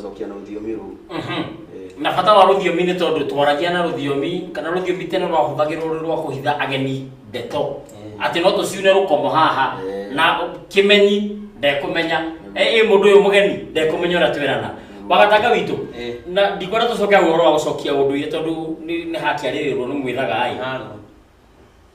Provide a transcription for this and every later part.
Gũcokia na rũthiomi rũu. Mhm. Eh. Na bata wa rũthiomi nĩ tondũ twaragia na rũthiomi kana rũthiomi tene rwahũthagĩrwo rwĩ rwa kũhitha ageni ndeto Eh. atĩ no tũciune rũkomo haha Eh. na kĩmenyi ndekũmenya ĩ mũndũ ũyũ mũgeni ndekũmenya ũrĩa twerana wagatanga witũ Eh. na ndikwenda tũcoke hau ũhoro wa gũcokia ũndũire tondũ nĩ nĩ hakĩarĩrĩrwo nĩ mwĩthaga ĩ Halo.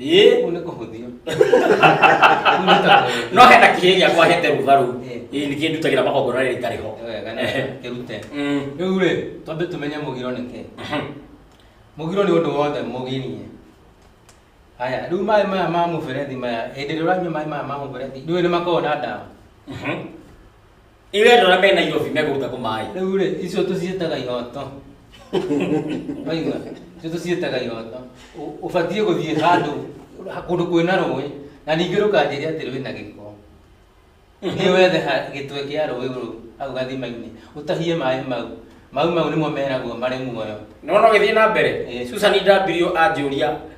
ĩĩ Kũu nĩ kũhũthio. Kũu nĩ ta kũhũthio. no hena kĩhĩ gĩakwa hete rũgarũ Eh. ĩĩ nĩkĩĩ ndutagĩra magongona rĩrĩ itarĩ ho Wega nĩ kĩrute. Mm. Rĩu rĩ, twambe tũmenye mũgiro nĩ kĩ. Mhm. Mũgiro nĩ ũndũ wothe mũgirie. Haya, rĩu maĩ maya ma mũberethi maya, hĩndĩ ĩrĩa ũranyua maĩ maya ma mũberethi, ndũĩ nĩ makoragwo na ndawa. Mhm. Irendo na mena irobi megũruta kũ maĩ. Rĩu rĩ, icio tũciĩtaga ihoto. Waigua? Icio tũciĩtaga ihoto. Ũ- Ũbatiĩ gũthiĩ handũ kũndũ kwĩna rũĩ na ningĩ rũkanjĩria atĩ rwĩna gĩko. Nĩ wethe ha- gĩtwe kĩa rũĩ rũu hau gathima-inĩ ũtahie maĩ mau. Maĩ mau nĩmo meragwo marĩ muoyo. Nĩ wona ũgĩthiĩ na mbere? Ĩĩ. Susan Ndambirio anjũria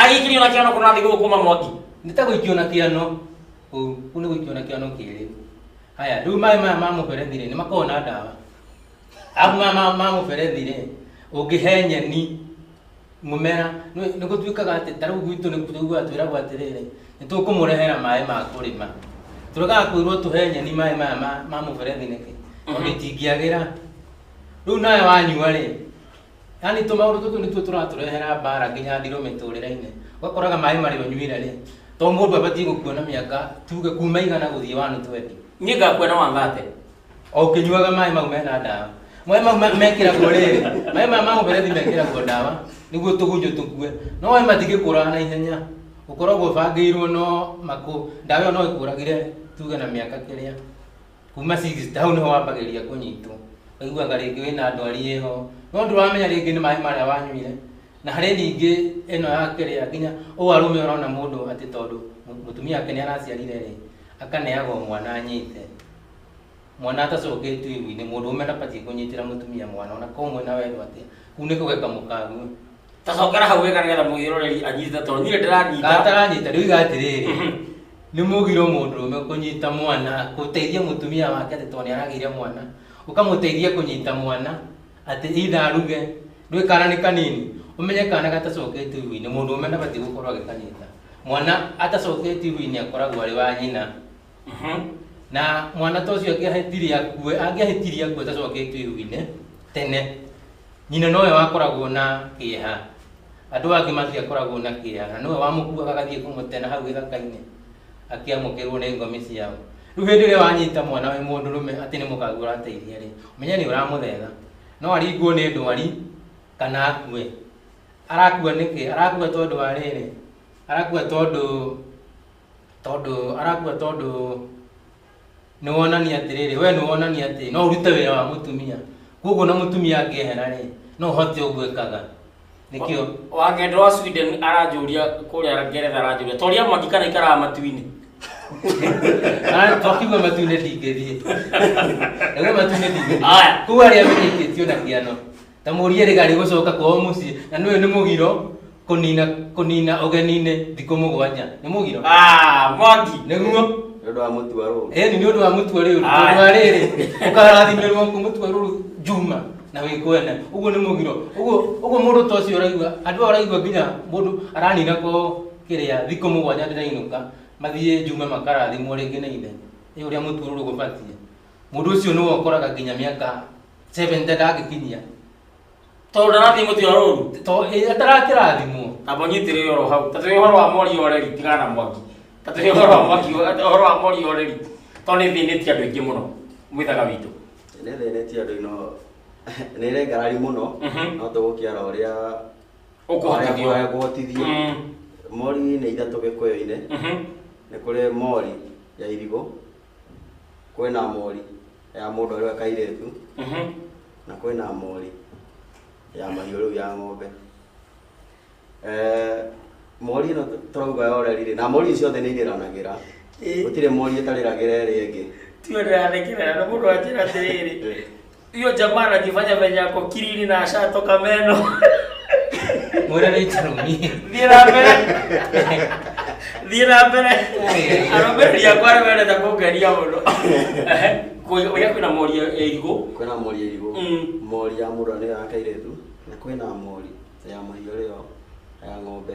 Agĩikĩrio na kĩano kũrathiĩ gũkũma mwaki. Nĩ ta gũikio na kĩano ũũ, kũu nĩ gũikio na kĩano kĩrĩ. Haya, rĩu maĩ maya ma mũberethi-rĩ, nĩ makoragwo na ndawa. Arabu maya ma- ma mũberethi-rĩ, ũngĩhe nyeni mũmera, nĩ nĩ gũtuĩkaga atĩ ta rĩu gwitũ nĩ tũiguaga twĩragwo atĩrĩrĩ, nĩ tũkũmũrehera maĩ ma kũrĩma. Tũregaga kwĩrwo tũhe nyeni maĩ maya ma- ma mũberethi nĩkĩ? Tondũ itingĩagĩra. Rĩu nawe wanyua-rĩ, yani tå maå ndå tå tå nä tuo tå ratå rehera mbara nginya ndirå mä tå rä rainä ũgakoraga maĩ marä å nyuire rä to må ndå abatiä gå kuona mä aka tuge kuma igana gå thiä wanå twendi niä ngakuona wangate o å kä nyuaga maä mau mena ndawa maä mau ma- mekĩragwo rĩrĩ maä maya ma mũberethi mekĩragwo ndawa nĩguo tũgunyũ tũkue no maĩ matingĩ kũraga na ihenya ũkoragwo ũbangĩirwo no makũ ndawa ĩyo no ĩkũragire tuge na mĩaka kĩrĩa kuma six hau niho wambagĩrĩria kũnyitwo aiguaga rĩngĩ wĩna ndwari ĩho no ndũramenya rĩngĩ nĩ maĩ marĩa wanyuire na harĩ ningĩ ĩno ya kĩrĩa nginya ũũ arũme ũrona mũndũ atĩ tondũ mũ- mũtumia wake nĩ araciarire rĩ akaneagwo mwana anyite mwana atacokĩtio igu-inĩ mũndũ ũme ndabatiĩ kũnyitĩra mũtumia mwana ona ko mwĩna wendo atĩa kuu nĩ kũgeka mũkague tacokera hau wega nĩgetha mũgĩroreri anyite tondũ niĩ ndĩranyita gataranyita rĩu iga atĩrĩrĩ Mhm. nĩ mũgiro mũndũrũme kũnyita mwana gũteithia mũtumia wake atĩ tondũ nĩ aragĩire mwana ũkamũteithia kũnyita mwana atĩ itha aruge ndũĩ kana nĩ kanini ũmenye kana gatacoketio iru-inĩ mũndũrũme ndabatiĩ gũkorwo agĩkanyita mwana atacoketio iru-inĩ akoragwo arĩ wa nyina Mhm. na mwana ta ũcio angĩahĩtirie akue angĩahĩtirie akue tacoketio iru-inĩ tene nyina nowe wakoragwo na kĩeha andũ angĩ matiakoragwo na kĩeha na nowe wamũkuaga agathiĩ kũmũtena hau gĩthaka-inĩ akĩamũkĩrwo nĩ ngomi ciao rĩu hĩndĩ ĩrĩa wanyita mwana wĩ mũndũ rũme atĩ nĩ mũkagu ũrateithia rĩ menya nĩ ũramũthetha no aringwo nĩ ndwari kana akue arakua nĩkĩ arakua tondũ wa rĩrĩ arakua tondũ tondũ arakua tondũ nĩ wonania atĩrĩrĩ we nĩ wonania atĩ no ũrute wĩra wa mũtumia koguo na mũtumia angĩehera rĩ no ũhote ũguo ĩkaga nĩkĩo wakenda wa sweden aranjũria kũrĩa ngeretha aranjũria toria mwaki kana ikaraga matu-inĩ twakiuga matu-inĩ ndingĩthiĩ ĩwe matu-inĩ ndingĩthiĩ Aya. koguo arĩa menyekĩtio na kĩano ta mũrie rĩga rĩgũcoka kwao mũciĩ na nĩũyũ nĩ mũgiro kũnina kũnina ũgeninĩ thikũ mũgwanja nĩ mũgiro Ah, Mwangi. nĩguo Nĩ ũndũ wa mũtu wa rũũru. ĩni nĩ ũndũ wa mũtua rĩu Aye. tondũ wa rĩrĩ ũkarathimĩrwo kũ mũtua rũrũ njuma na wĩkwene ũguo nĩ mũgiro ũguo ũguo mũndũ ta ũcio ũraigua andũ aya ũraigua nginya mũndũ aranina ko kĩrĩa thikũ mũgwanja ndĩrainũka mathiĩ njuma makarathimwo rĩngĩ nĩ ithe ĩ ũrĩa mũtua rũrũ gũbatiĩ Mũndũ ũcio nĩwe ũkoraga nginya mĩaka 70 ndangĩkinyia. Tondũ ndarathiĩ mũtĩ wa rũru. Tondũ eh, atarakĩrathimwo. Na mũnyitĩrĩre oro hau. Ta tũrĩ ũhoro wa mori oreri tigana na mwaki. Ta tũrĩ ũhoro wa mwaki ũhoro wa mori oreri. Tondũ nĩ thĩnĩtie andũ aingĩ mũno mwĩthaga witũ. Nĩ thĩnĩtie andũ ino nĩ ĩrengarari mũno mhm. no tũgũkĩara ũrĩa ũkũhotithio mm. mori nĩ ithatũ gĩkũyũ-inĩ mhm. nĩ kũrĩ mori ya irigũ kwĩna mori ya mũndũ arĩ we kairĩtu Mhm. na kwĩna mori ya mahiũ rĩu ya ng'ombe Eh, mori ĩno tũrauga yorerirĩ na mori ici ciothe nĩ irĩranagĩra Ĩĩ. gũtirĩ mori ĩtarĩragĩra ĩrĩa ĩngĩ tiwe ndĩrathekerera nĩ mũndũ anjĩra atĩrĩrĩ Hiyo jamaa anajifanya venye ako kiriri na ashatoka meno. Mwana ni tarumie. Thiĩ na mbere. Thiĩ na mbere. Arũmĩrĩri akwa nĩ mendete kũngeria mũno. Kũrĩa kwĩna mori ya irigũ. kwĩna mori ya irigũ Mm. mori ya mũndũ nĩyo ya kairetu na kwĩna mori ya mahiũ rĩo ya ng'ombe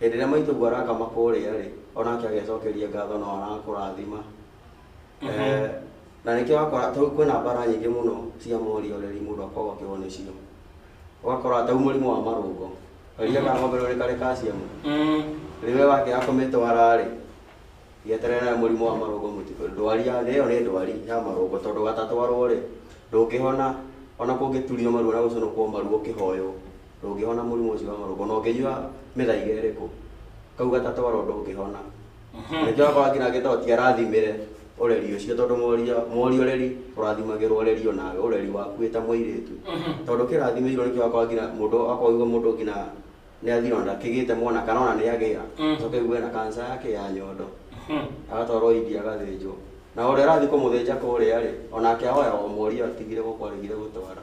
Hĩndĩ ĩrĩa maitũguo arakama kũrĩa-rĩ, o nake agecokeria ngatho nao arakũrathima. Eh, na nĩkĩo wakora tau kwĩna mbara nyingĩ mũno cia morioreri mũndũ akoragwo akĩgwa nĩcio. Ũgakora tau mũrimũ wa marũngo, karia ka ng'ombe rĩu nĩ karĩ calcium, Mm. rĩu we wakĩaga kũmĩtwara-rĩ, gĩeterere nawe mũrimũ wa marũngo mũtitũ. Ndwari ya thĩ ĩyo nĩ ndwari ya marũngo tondũ gatatwarwo-rĩ, ndũngĩhona ona kũngĩturio maru ona gũcũnũkwo maru ũkĩhoywo. ndũngĩhona mũrimũ ũcio wa marũngo na ũngĩnyua mĩthaiga ĩrĩkũ kau gatatwaro ndũngĩhona nĩkĩo akorwo nginya agĩtao ti arathimĩre ũreri ũcio tondũ moria moria ũreri ũrathimagĩrwo ũreri onawe ũreri waku wĩ ta mũirĩtu tondũ kĩrathimĩirwo nĩkĩo akorwo nginya mũndũ akorwo aigua mũndũ nginya nĩ athirwo na ndakĩgĩte mwana kana ona nĩ agĩa Mm. coke aigue na kanca yake ya nyondo agatwarwo india agathĩnjwo na ũrĩa arathiĩ kũmũthĩnja kũrĩa rĩ onake ahoya o moria atigire gũkwarĩgire gũtwara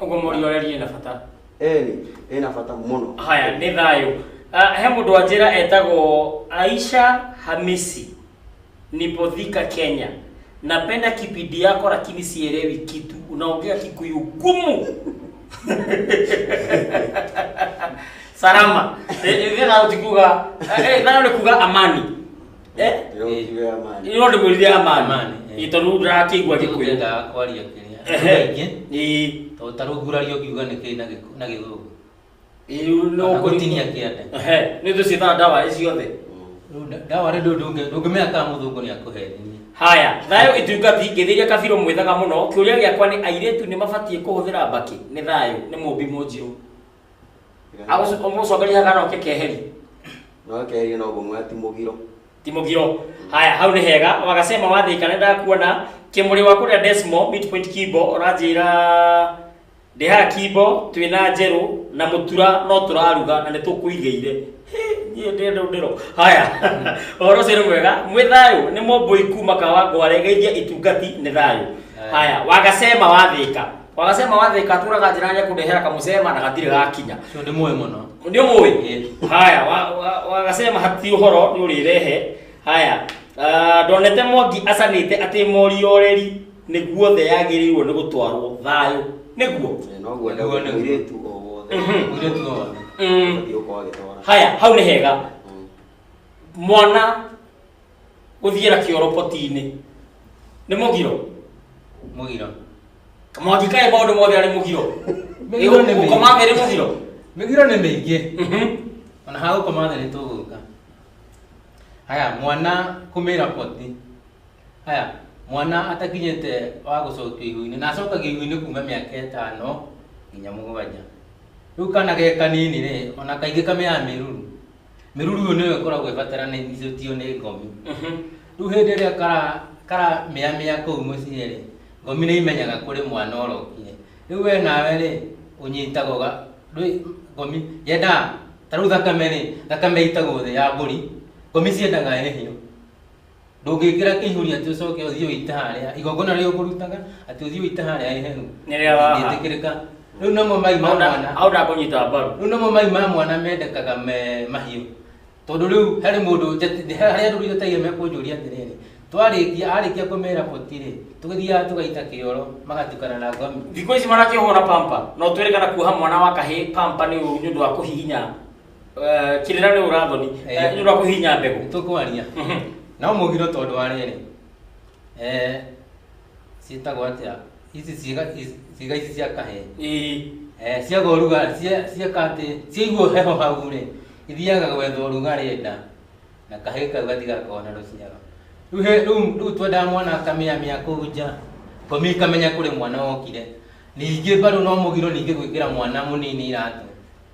Ũguo mũriũ areria na bata. Eni, ena bata mũno. Haya, nĩ thayũ. Ah, He mũndũ wa njĩra etagwo Aisha Hamisi, Nipodhika, Kenya. Napenda kipindi yako lakini sielewi kitu. Unaongea Kikuyu gumu. Salama. Eh, eh, thayũ ti kuga, eh, eh, thayũ ni kuga amani. Eh? Yo kiwe amani. Ino ndi mwithia amani. Amani, eh. Itonu ndakigwa gikwe. Twendaga kwaria kĩrĩa. Ehe. Kaingĩ, Ii. to ta rĩu ngurario ngiuga nĩ kĩĩ na gĩkũ- na gĩthũngũ. Iu no Kana gũtinia kĩande. Ehe. Nĩ tucitha ndawa icio othe. Rĩu nda- ndawa rĩ ndũ- ndũngĩ- ndũngĩmenya kana mũthũngũ nĩ akũhenia. Haya, thayũ itungati ngĩthĩria kabirũ mwĩthaga mũno. Kĩũria gĩakwa nĩ airĩtu nĩ mabatiĩ kũhũthĩra mbakĩ? Nĩ thayũ, nĩ mũmbi mũnjirũ. agũcokeria hagana oke keheri no keheri no gũmwa ti mũgiro ti mũgiro haya hau nĩ hega wagasema wathĩka nĩ ndakuona kĩmũrĩ waku rĩa desmo midpoint kimbo ũranjĩra ndĩhaga kimbo twĩna njerũ na mũtura no tũraruga na nĩ tũkũigĩire niĩ ndĩ ndũ ndĩro haya ũhoro ũcio nĩ mwega mwĩ thayũ nĩ mũmbũi kuma kawa ngware geithia itungati nĩ thayũ haya wagasema wathĩka Wanasema wathe katura kajirani kudehera kamusema na katire gakinya. Sio ni moyo mwana. Ndio moyo. Haya, wa- wa- wakasema hati uhoro ni urirehe. Haya. ah, Ndonete Mwangi acanite ati morioreri niguo the yagirirwo ni gutwarwo thayo. Niguo. Noguo Nĩguo, nĩguo. mũirĩtu o wothe Mhm. Ule tu wao. Mm. ũthiĩ ũkorwo agĩtwara Haya, hau ni hega. Mm. Mwana gũthiĩra kĩoroboti-inĩ nĩ mũgiro mũgiro mwangi kaĩ maũndũ mothe arĩ mũgiro Mĩgiro nĩ mĩingĩ. gũkoma merĩ mũgiro mĩgiro nĩ mĩingĩ Mhm. ona ha gũkoma thĩ nĩ tũgũka haya mwana kũmĩra poti haya mwana atakinyĩte wa gũcokio ihu-inĩ na acokagio ihu-inĩ kuma mĩaka ĩtano nginya mũgwanja rĩu kana ge kanini rĩ ona kaingĩ kamĩaga mĩruru mĩruru ĩyo nĩyo ĩkoragwo ĩbataranĩtio nĩ ngomi rĩu hĩndĩ ĩrĩa kara- karamĩamĩa kũu mũciĩ rĩ ngomi nĩ imenyaga kũrĩ mwana ũrokire rĩu we nawe rĩ ũnyitaga ũga ndwĩ- ngomi yendaga ta rĩu thakame rĩ thakame ĩitagwo thĩ ya mbũri ngomi ciendaga ĩhĩo ndũngĩkĩra kĩihũri atĩ ũcoke ũthiĩ ũite harĩa igongona rĩrĩa ũkũrutaga atĩ ũthiĩ ũite harĩa iheru Nĩ rĩa waha. ndĩtĩkĩrĩka rĩu namo mai ma mwana au ndakũnyita mbaru rĩu namo mai ma mwana mendekaga me mahiũ tondũ rĩu harĩ mũndũ njati- harĩa andũ njatagia mekũnjũria atĩrĩrĩ twarĩkia arĩkia kũmera boti-rĩ tũgĩthiaga tũgaita kĩoro magatukana na ngomi thikũ ici marakĩhũra pampa no twĩrĩkana kuoha mwana wa kahĩ pampa nĩ ũru nĩ ũndũ wa kũhihinya Eh, kirira rä urathoni Eh. rä kå hinya mbegå tũkwaria Mhm. no mũgiro tondũ wa rĩrĩ eh, ciĩtagwo atĩa ici ciĩga ici- ciĩga ici cia kahee Ĩĩ. Eh, ciaga ũrugarĩ cia- cieka atĩ ciaigua heho hau rĩ ithiaga gwetha ũrugarĩ nda na kahĩĩ kau gatigakona rũciaro Rĩu he- rĩu rĩu twendaga mwana akamĩamĩa kũu nja komi ikamenya kũrĩ mwana wokire ningĩ mbarũ no mũgiro ningĩ gwĩkĩra mwana mũnini iratũ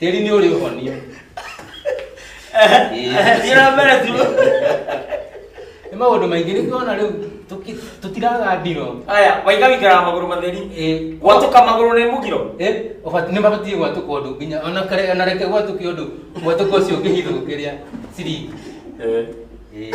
Tĩri nĩ ũrĩ ũhonia. Thiĩ na mbere tu. Nĩ maũndũ maingĩ nĩ kuona rĩu tũki- tũtiraga ndiro. Aya, waiga wĩikaraga magũrũ matheri. Ĩĩ. Gwatũka magũrũ nĩ mũgiro. Eh, ũbati- nĩ mabatiĩ gwatũka ũndũ nginya ona kare- ona reke gwatũke ũndũ gwatũka ũcio ũngĩhithũkĩria ciringi. Eh. Ĩĩ.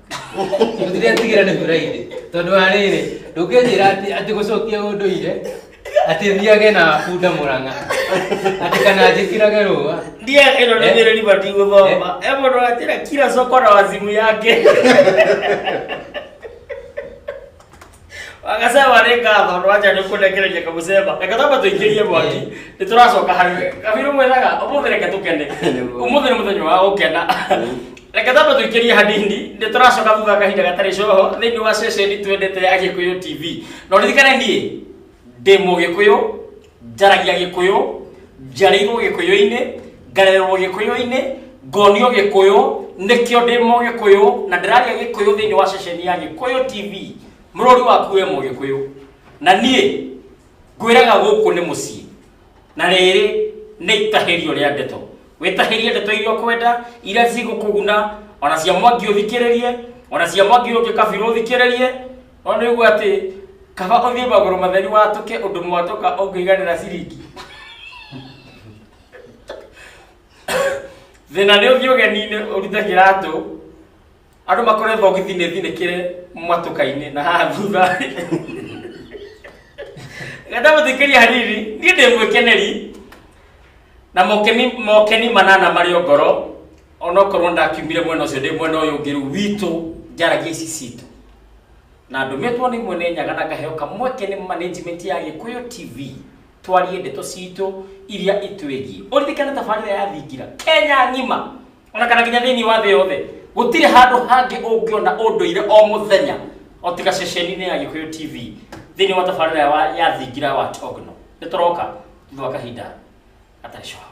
Gũtirĩ atigĩra nĩ kũraire. Tondũ wa rĩrĩ, ndũngĩnjĩra atĩ atĩ gũcokia ũndũire atĩ thiage na bunda mũrang'a atĩ kana njĩkĩrage rũa Ndiye ĩno nĩ Eh. nyĩrĩri bati gũthoma. Eh mũndũ atĩra kila soko na wazimu yake. wagasema nĩ ngatho ndwacha nĩ kũnekereria kamũcemba reke tamba tũingĩrie mwaki nĩ tũracoka harĩ we kabiru mwĩraga ũmũthĩ reke tũkene ũmũthĩ nĩ mũthenya wa gũkena reke tamba tũingĩrie hanini nĩ tũracoka thutha wa kahinda gatarĩ coho thĩinĩ wa ceceni twendete ya gĩkũyũ tv na ũririkane niĩ ndĩ mũgĩkũyũ njaragia gĩkũyũ njarĩirwo gĩkũyũ-inĩ ngarererwo gĩkũyũ-inĩ ngonio gĩkũyũ nĩkĩo ndĩ mũgĩkũyũ na ndĩraria gĩkũyũ thĩinĩ wa ceceni ya gĩkũyũ tv mũrũri waku we mũgĩkũyũ na niĩ ngwĩraga gũkũ nĩ mũciĩ na rĩrĩ nĩ itahĩrio rĩa ndeto wĩtahĩrie ndeto iria ũkwenda iria cigũkũguna ona cia mwangi ũthikĩrĩrie ona cia mwangi ũngĩ kabirũ ũthikĩrĩrie Ona nĩguo atĩ kaba ũthiĩ magũrũ matheri watũke ũndũ mwatũka ũngĩiganĩra ciringi. Thĩna nĩ ũthiĩ ũgeni-inĩ ũrute kĩratũ, andũ makore thogithi nĩ thinĩkĩre mwatũka-inĩ na haha thutha. Ngenda mũthikĩria hanini, niĩ ndĩ mwĩkeneri na mokeni, mokeni manana marĩ o ngoro onokorwo ndakiumire mwena ũcio ndĩ mwena ũyũ ũngĩ rĩu witũ njaragia ici citũ na ndũmĩtwo nĩ mwene nyaga na ngaheo kamweke nĩ management ya gĩkũyũ tv twarie ndeto citũ iria itwĩgiĩ ũririkane tabarĩra ya thingira kenya ng'ima ona kana nginya thĩinĩ wa thĩ yothe gũtirĩ handũ hangĩ ũngĩona ũndũire o mũthenya o tiga ceceni-inĩ ya gĩkũyũ tv thĩinĩ wa tabarĩra ya wa- ya thingira wa togno nĩ tũroka thutha wa kahinda gatarĩ coho